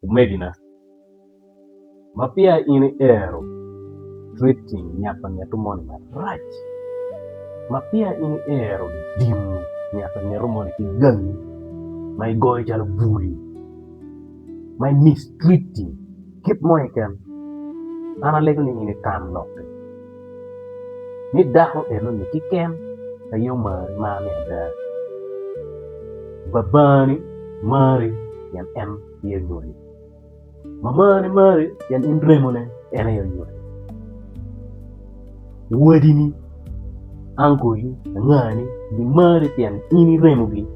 Omegina, ma peya in iero treating nyako angeto moni marac, ma peya in iero dimo nyako angeto moni ki gangi ma igoyo calo bul, ma i mistreating kit mo keken, an alego ni in itam lokke. ni dako enoni kiken aye omari mar me ada babani mari pien en aye onyuoli mamani mari pien in remone en aye onyuoli wadini ankoli angani gimari pien in iremogi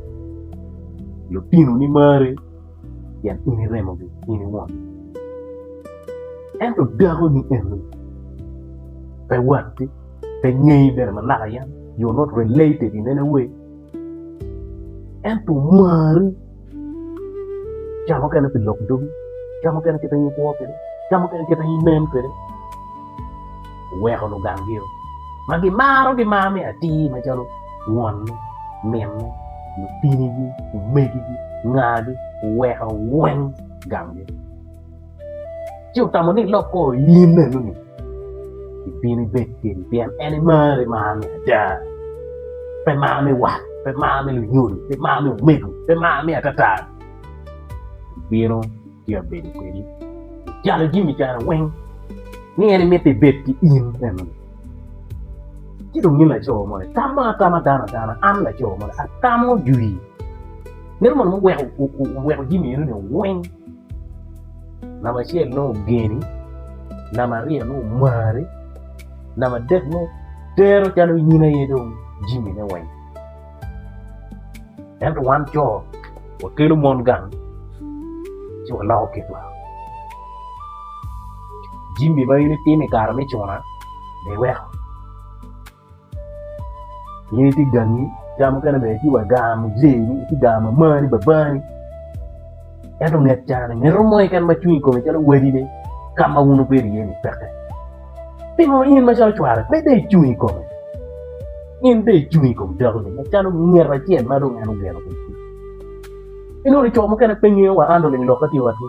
lutinoni mari. pien in iremogi in iwon. Ento dakoni eni pe watti, pe ngeyi bene ma naka yam you not related in any way ento omari ca mukene pi lok dogi, ca mukene kit ma in ikwo kwede, ca mukene kit ma in inen kwede. oweko lugangngi-ru ma gimaro gimar me atir macalo wonne, minne, lutinigi, omegigi, ngagi, oweko weng gangi. Ci otamo ni ilok kor oii in enoni ibino ibed kedi pien en imaro imar me ada, pe mar me wat, pe mar me lunyodo, pe mar me omego, pe mar me atata. Ibino. ci abedo kwedi calo jami kara weng ni en imito ibed ki in eno ni ci dong in laco moni tamo atama dano adana an laco moni atamo jwi meno mono muweko jami eno ni weng namba acel nongo ogeni namba aryo nongo omari namba adek nongo tero calo in aye dong jami ne weng Ento wan co wakelo mon gang ci waloko kitwa. Jami ma in itimo i kare me cuna be iweko. In itye gangi, jami mukene bene itye wa gar mujee ni, itye gar ma marani babani. Ento nget carani, mito mo keken ma cwinyi kome calo wadi ni ka ma wun wubedo iye-ni peke. Pingo in macalo cware pe dong icung i kome? In dong icung i kom dakoni macalo nget acel ma dong en ogeno kwede cwiny. Inwono co mukene pe ngeyo wa an lulim lok atye watgi.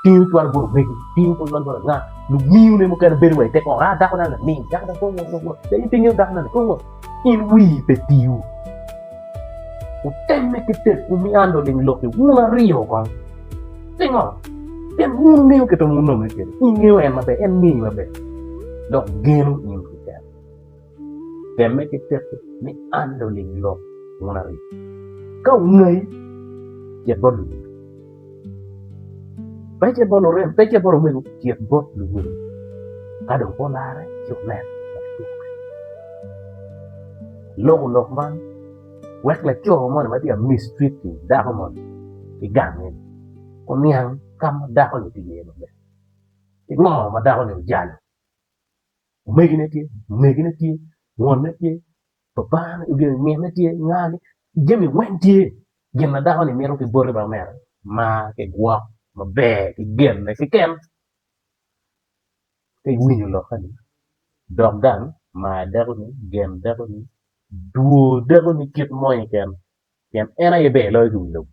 Tingo cwalo bot omegi, tingo cwalo bot anga, lumiu ne mukene bedo wa i te kor, ah dakona lamin, dakona kong wot wot wot, pe pe ingeyo dakona ni kong wot. In wii pe tiu? Wutemme ki tekwu miano ling lokke wun aryo kong. Pingo? Pien wun wungeyo kit ma wunonge kwede, wungeyo en maber, en ngeyi maber, dok geno in keken. Temme ki tekwu miano ling lok wun aryo. Ka wungayi, cit bot Lubanga. Pecce bot omego pecce bot omego cit bot luwil ka dong pe olare ci onen ma kidwoke aloko lok man wek laco moni ma tye ka mistreat ki dako moni ki gange ni oniang ka ma dako ni tye iye maber ki ngo ma dako ni ojalo omegine tye mwonne tye pa Bangane i gin ngene tye ngagi jami weng tye gin ma dako ni mito ki boti bene mere mar ki gwok maber ki genne keken ki winyo lokke ni dog gang mar dako ni gen dako ni dwor dako ni kit moni keken pien en aye ber loyo ki wi lobo.